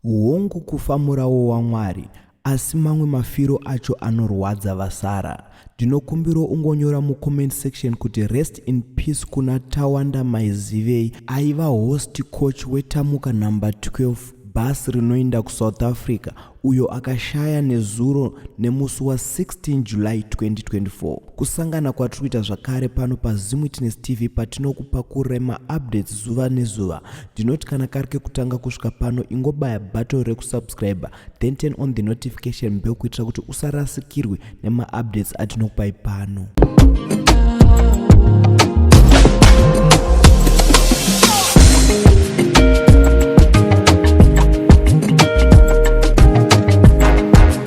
Hongu kufa murawo waMwari asi mamwe mafiro acho anorwadza vasara. Ndinokumbiro ungonyora mu comment section kuti rest in peace kuna Tawanda Maizivei aiva host coach we Tamuka number 12 bus rinoinda ku South Africa uyo akashaya nezuro nemusi wa 16 July 2024. Kusangana kwatiri kuita zvakare pano pa Zim Witness TV patinokupa kurema updates zuva nezuva. ndinoti kana kari kekutanga kusvika pano ingobaya button rekusubscriber then turn on the notification bell kuitira kuti usarasikirwe nemaupdates atinokupai pano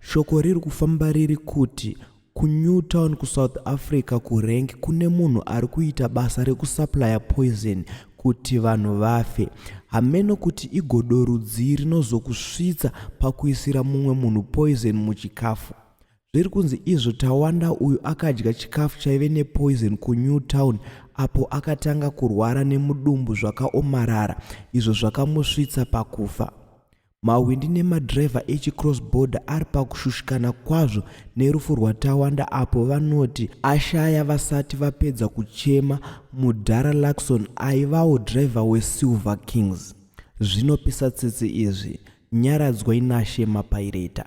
Shoko riri kufamba riri kuti kuNewtown kuSouth Africa kuRank kune munhu ari kuita basa rekusuplya poison kuti vanhu vafe. Hameno kuti igodo rudzii rinozokusvitsa pakuisira mumwe munhu poison muchikafu. Zviri kunzi izvo Tawanda uyu akadya chikafu chaive nepoison kuNewtown apo akatanga kurwara nemudumbu zvakaomarara izvo zvakamusvitsa pakufa. Mahwindi nemadhirevha echiCross Border ari pakushushikana kwazvo nerufu rwaTawanda apo vanoti ashaya vasati vapedza kuchema mudhara Luckson aivawo dhirevha weSilver Kings. Zvinopisa tsitsi izvi. Nyaradzwai naShe Mapaireta.